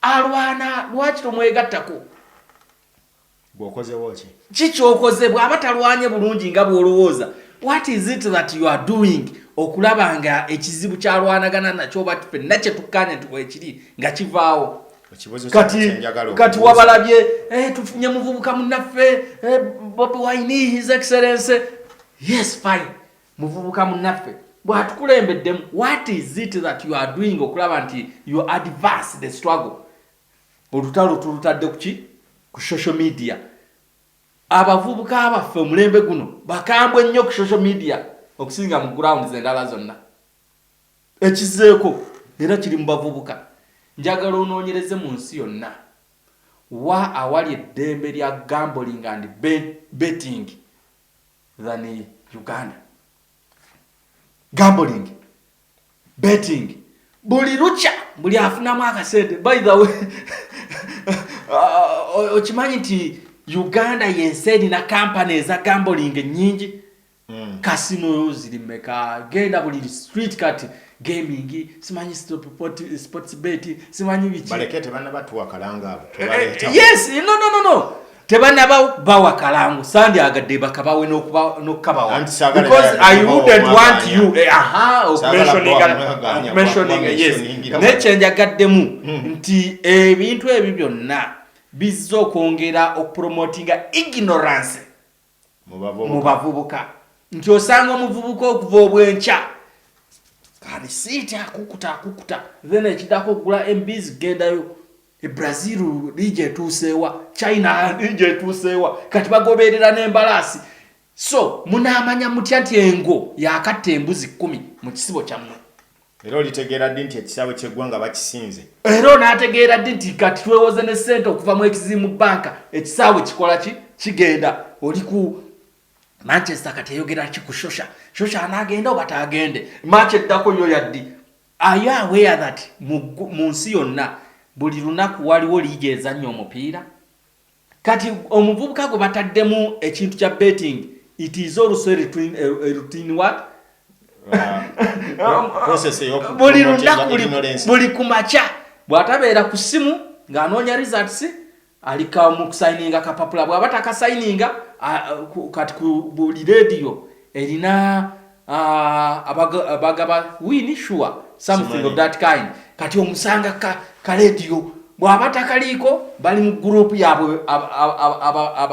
alwana lwaki tomwegattako bwokozewo ki ki kyokoze bw'aba talwanye bulungi nga bw'olowooza what is it that you are doing okulaba nga ekizibu kyalwanagana nakyo oba fenna kye tukkaanya nti weekiri nga kivaawo kati wabalabye eh, tufunye muvubuka munaffe eh, bobi wine his excellence yes fine muvubuka munaffe bwatukulembeddemu what is it that you are doing okulaba nti you advance the struggle olutalo tulutadde kuki ku social media abavubuka baffe omulembe guno bakambwe nnyo ku social media okusinga mu grounds endala zonna Ekizzeeko era kiri mu bavubuka, njagala onoonyereze mu nsi yonna wa awali eddembe lya gambling and betting than Uganda. Gambling, betting, buli lukya buli afunamu akasente by the way okimanyi nti uganda yensi erina kampani eza gamboling nyingi Mm. Casino ziri meka genda buli street cut gaming simanyi stop pot sports bet simanyi bichi baleke tebana batu wakalanga abo eh, eh, tebana yes no no no no tebana ba ba wakalangu sandi agade bakaba we no kuba no kaba wa because i wouldn't want you eh, aha of mentioning and mentioning yes ne change agade mu hmm. nti ebintu ebyo byonna bizzo kwongera okupromotinga ignorance mu bavubuka nti osanga omuvubuka okuva obwenkya alisiiti akukuta akukuta then ekidako okugula embizi kugendayo e brazil liigi etuuseewa china liigi etuuseewa kati bagoberera n'embalaasi so munaamanya mutya nti engo yakatta embuzi kkumi mu kisibo kyammwe Era olitegeera ddi nti ekisaawe ky'eggwanga bakisinze? Era onaategeera ddi nti kati twewoze ne ssente okuva mu ekizimu bbanka ekisaawe kikola ki kigenda oli ku manchester kati eyogera ki ku shosha shosha anaagenda oba taagende maaki eddako yo yaddi ayo awea that mu nsi yonna buli lunaku waliwo liigi ezannya omupiira Kati omuvubuka gwe bataddemu ekintu kya betting it is also a routine what buli lunaku buli ku makya bw'atabeera ku ssimu ng'anoonya results ali kamu kusayininga kapapula bw'aba takasayininga kati ku buli leediyo erina Ah, bagaba wini sure something of that kind kati omusanga ka kalediyo bwaba takaliiko bali mu gurupu yabwe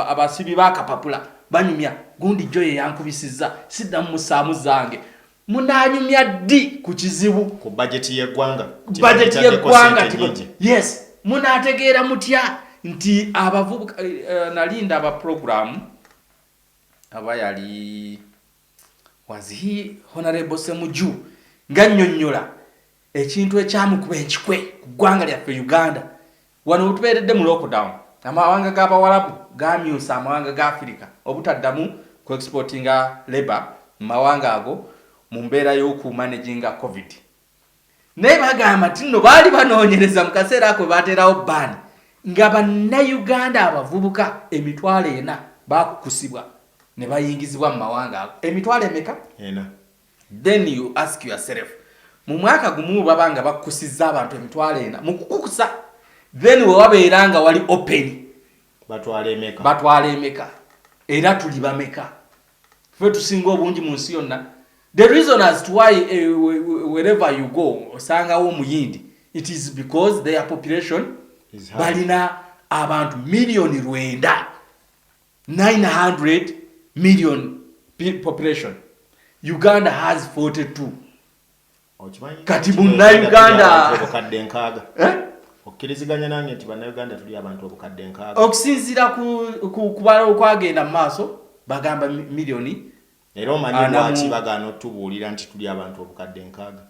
abasibi bakapapula banyumya gundi jo yeyankubisiza sidda mumusaamu zange munanyumya ddi ku kizibu ku bajeti yeggwanga bajeti yeggwanga yes munategeera mutya nti abavubuka eh, eh, nalinda abaprogramu aba yali Was he Honorable Semuju ng'annyonnyola ekintu ekyamukuba enkikwe ku ggwanga lyaffe Uganda. Wano wetubeeredde mu lockdown, amawanga g'Abawalabu gaamyusa amawanga ga Afirika obutaddamu ku exportinga labour mu mawanga ago mu mbeera y'oku managinga Covid naye bagamba nti nno baali banoonyereza mu kaseera ako bateerawo bbaani nga bannayuganda abavubuka emitwalo ena bakukusibwa ne bayingizibwa mu mawanga ago emitwalo emeka ena then you ask yourself mu mwaka gumu baba nga bakukusizza abantu emitwalo ena mu kukukusa then wewabeera nga wali open batwala emeka batwala emeka era tuli bameka fe tusinga obungi mu nsi yonna the reason as to why uh, wherever you go osangawo omuyindi it is because their population balina abantu miliyoni lwenda 900 million population uganda has 42 kati bunnauganda obukadde nkaaga eh? okkiriziganya nange nti bannauganda tuli abantu obukadde nkaaga okusinziira kubala okwagenda mu maaso bagamba miliyoni era omanyi lwaki bagaana otubuulira nti tuli abantu obukadde nkaaga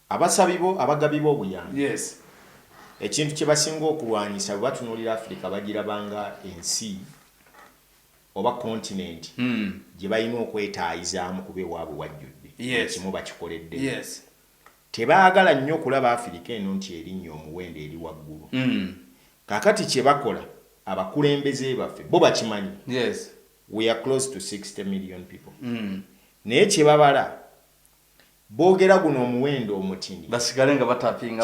abasabibo abagabiba obuyambi yes. ekintu kye basinga okulwanyisa bwe batunuulira afirika bagirabanga ensi oba continent gye balina okwetaayizaamu kuba ewaabwe wajjudde buli kimu bakikoleddeyo. Tebaagala nnyo kulaba Afirika eno nti erinnye omuwendo eri waggulu. Kaakati kye bakola abakulembeze baffe bo bakimanyi, we are close to sixty million people, naye kye babala boogera guno omuwendo omutini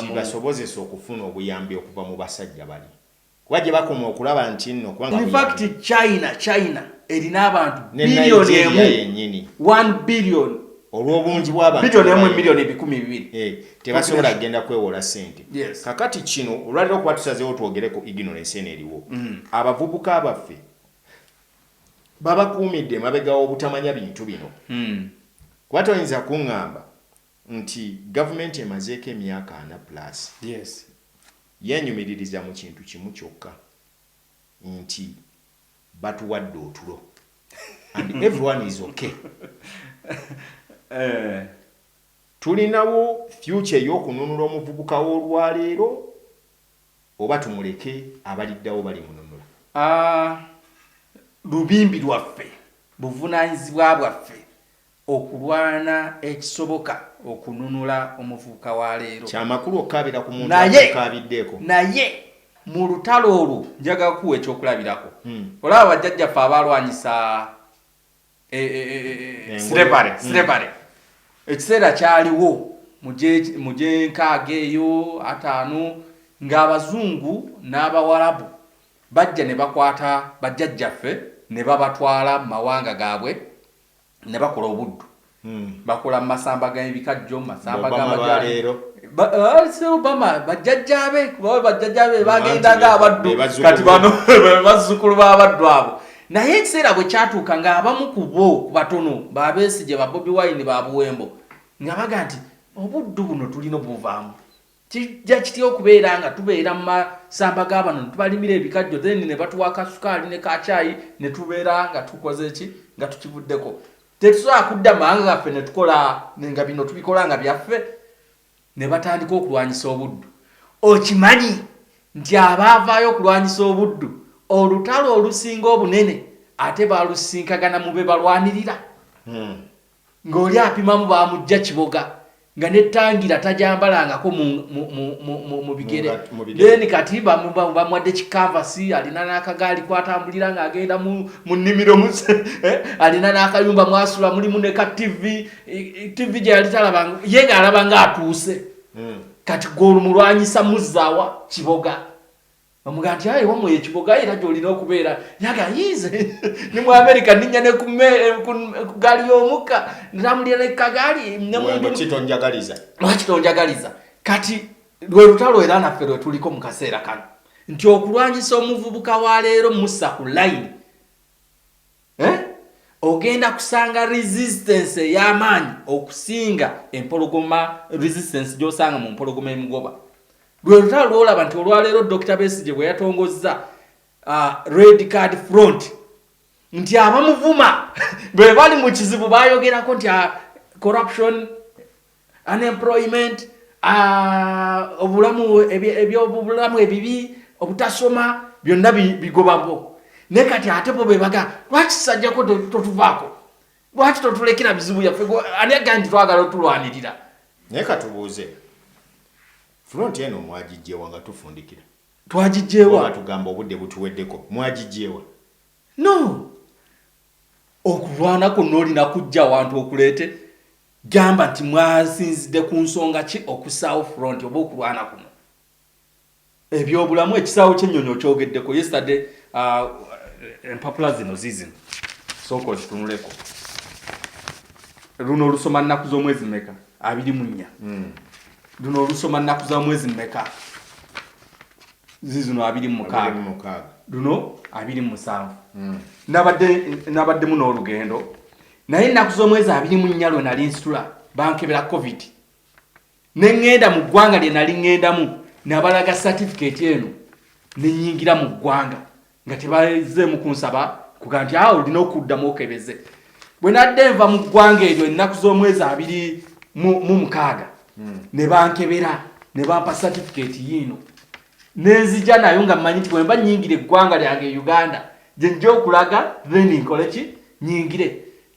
kibasobozese okufuna obuyambi okuva mu basajja bali. kuba gye bakoma okulaba nti nno kubanga in fact china china erina abantu biliyoni emu yenyini 1 biliyoni olw'obungi bwabantubiliyoni ebikumi bibiri eh, tebasobola kugenda kwewola sente kakati kino olwaliro okuba tusazeewo twogere ku ignorance eno eriwo mm. abavubuka baffe babakuumidde emabega w'obutamanya bintu bino mm. kuba toyinza kuŋŋamba nti gavumenti emazeeko emyaka ana plus Yeenyumiririza mu kintu kimu kyokka nti batuwadde otulo and everyone is okay. Tulinawo future ey'okununula omuvubuka w'olwaleero oba tumuleke abaliddawo balimununula? Aah lubimbi lwaffe, buvunaanyizibwa bwaffe okulwana ekisoboka okununula omuvubuka wa leero. Kya makulu okukaabira ku muntu atakukaabiddeeko. Naye mu lutalo olwo njagala kukuwa ekyokulabirako. Olaba bajjajjaffe abaalwanyisa Slavery, slavery, ekiseera kyaliwo mu gy'enkaaga eyo, ataano, ng'Abazungu n'Abawarabu bajja ne bakwata bajjajjaffe ne babatwala mu mawanga gaabwe ne bakola obuddu hmm. bakola masamba g'ebikajjo masamba g'amajaleero obama eh, bajjajjaabe kubawe bajjajjaabe bagendaga abaddu kati bano bazzukulu b'abaddu abo naye ekiseera bwe kyatuuka ng'abamu ku bo ku batono babeesije ba bobi wine ba buwembo nga baga nti obuddu buno tulina obuvaamu Kijja kitya okubeera nga tubeera mu masamba ga bano ne tubalimira ebikajjo then ne batuwa ka sukaali ne ka caayi ne tubeera nga tukoze ki nga tukivuddeko? Tetusobola kudda mu mawanga gaffe ne tukola nga bino tubikola nga byaffe? Ne batandika okulwanyisa obuddu. Okimanyi nti abaavaayo okulwanyisa obuddu olutalo olusinga obunene ate baalusisinkagana mu be balwanirira? Hmm. nga oli apimamu bamujja kiboga nga netangira tajambalangako mu bigere then kati bamwadde kikavasi alina nakagaali kwatambulira nga agenda mu nimiro eh, alina nakayumba mwasula mulimu neka tv tv gyeyali talabanga ye nga alaba nga atuuse hmm. kati gweolumulwanyisa muzzawa kiboga Bamugamba nti aye wamwe ekiboga era gy'olina okubeera yaga yize ni mu Amerika ninnya ne ku gaali y'omukka ntambulira ne kagaali lwaki tonjagaliza lwaki tonjagaliza kati lwe lutalo era naffe lwe tuliko mu kaseera kano nti okulwanyisa omuvubuka wa leero musa ku layini eh? ogenda kusanga resistance ey'amaanyi okusinga empologoma resistance gy'osanga mu mpologoma emugoba lwe lutalo lwolaba nti olwaleero dr besigye bwe yatongozza uh, red card front nti abamuvuma bwe bali mu kizibu bayogerako nti uh, corruption unemployment uh, obulamu ebyobulamu ebyo ebibi obutasoma byonna bigobabo naye kati ate bo bebaga lwaki sajjako totuvaako lwaki totulekera bizibu yaffe ani aga nti twagala otulwanirira naye katubuuze front eno mwagijjewa nga tufundikira twagijjewa tugamba obudde butuweddeko mwagijjewa no okulwana kuno olina kujja awantu okuleete Gamba nti mwasinzidde ku nsonga ki okussaawo front oba okulwana kuno? Ebyobulamu, ekisaawe ky'ennyonyi okyogeddeko yesterday, uh, empapula zino ziizino sooka ozitunuleko. Luno olusoma nnaku z'omwezi mmeka? abiri mu nnya. Hmm. Luno olusoma nnaku za mwezi mmeka? ziizino abiri mu mukaaga. Luno abiri mu musanvu. Hmm. Nabaddemu n'olugendo naye ennaku z'omwezi abiri mu nnya lwe nali nsitula bankebera covid ne ŋŋenda mu ggwanga lye nali ŋŋendamu nabalaga satifikeeti eno ne nnyingira mu ggwanga nga tebazeemu kunsaba kuga nti awo olina okuddamu okebeze bwe nadde nva mu ggwanga eryo ennaku z'omwezi abiri mu mukaaga hmm. ne bankebera ne bampa satifikeeti yiino nenzija nayo nga manyi nti bwemba nyingira eggwanga lyange e uganda gyenja okulaga then nkole ki nyingire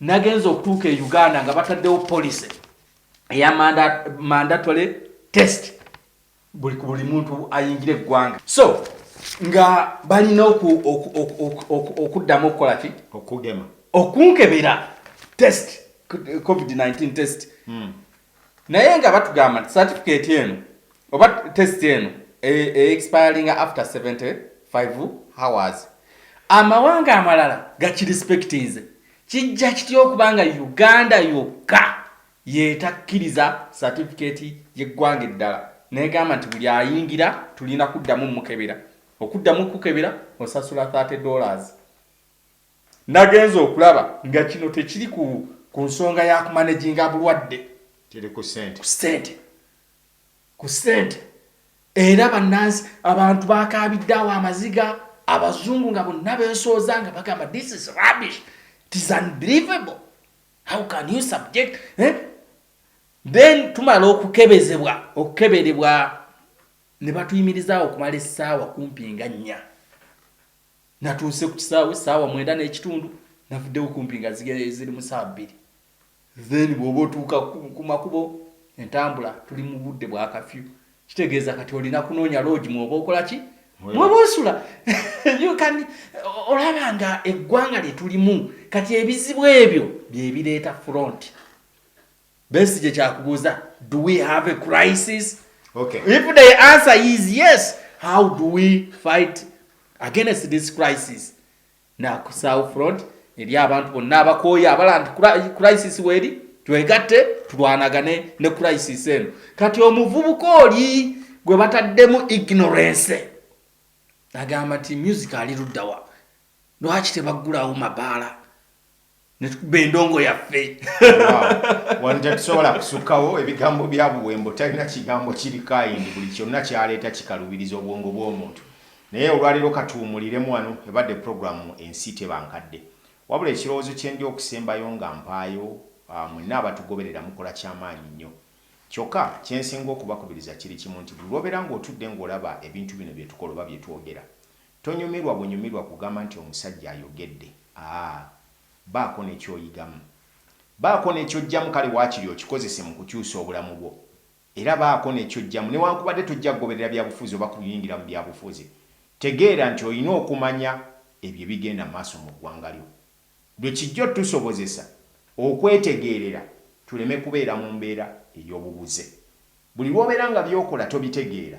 nagenza okutuuka e uganda nga bataddewo policy eya mandatory test buli ku buli muntu ayingira eggwanga so nga balina okuddamu okukola ki okunkebera test covid-19 test hmm. naye nga batugamba nti certificate eno oba test eno eexpiringa e, e after 75 hours amawanga amalala gakirespectinze kijja kitya okuba nga uganda yokka yetakkiriza certificate yeggwanga eddala negamba nti buli ayingira tulina kuddamu mukebera okuddamu kukebera osasula 30 dollars Nagenze okulaba nga kino tekiri ku ku nsonga ya kumanaginga bulwadde, kiri ku ssente. Ku ssente, ku ssente era bannansi abantu baakaabidde awo amaziga, Abazungu nga bonna beesooza nga bagamba this is rubbish, it is unbelievable, how can you subject eh? Then tumala okukebezebwa, okukeberebwa ne batuyimirizaawo okumala essaawa kumpi nga nnya. Natuuse ku kisaawe saawa mwenda n'ekitundu navuddewo kumpi nga ziri mu saawa bbiri. Then bw'oba otuuka ku makubo entambula tuli mu budde bwa kafyu kitegeeza kati olina kunoonya loogi mwoba okola ki mwoba osula yukani olaba nga eggwanga lye tulimu kati ebizibu ebyo bye bireeta front Besigye kyakubuuza do we have a crisis okay. if the answer is yes how do we fight against this crisis na ku south front eri abantu bonna abakooya abala nti crisis weeri twegatte tulwanagane ne crisis eno kati omuvubuka oli gwe bataddemu ignorance agamba nti music ali luddawa lwaki tebaggulawo mabaala netukuba endongo yaffe wano tetusobola kusukawo ebigambo bya buwembo talina kigambo kiri kayindi buli kyonna kyaleeta kikalubiriza obwongo bw'omuntu naye olwaleero katuwumuliremu wano ebadde puroguramu ensi tebankadde wabula ekirowoozo kyendi okusembayo nga mpaayo ah, mwenna abatugoberera mukola kyamaanyi nnyo kyokka kyensinga okubakubiriza kiri kimu nti buli lwobeera ng'otudde ng'olaba ebintu bino byetukola oba byetwogera Tonyumirwa bunyumirwa kugamba nti omusajja ayogedde aah baako nekyoyigamu baako nekyojjamu kale wakiri okikozese mu kukyusa obulamu bwo era baako nekyojjamu newankubadde tojja kugoberera byabufuzi oba kuyingira mu byabufuzi tegeera nti olina okumanya ebyo ebigenda mu maaso mu ggwanga lyo bwe kijja otusobozesa okwetegeerera tuleme kubeera mu mbeera eyobubuze buli lwobeera nga byokola tobitegeera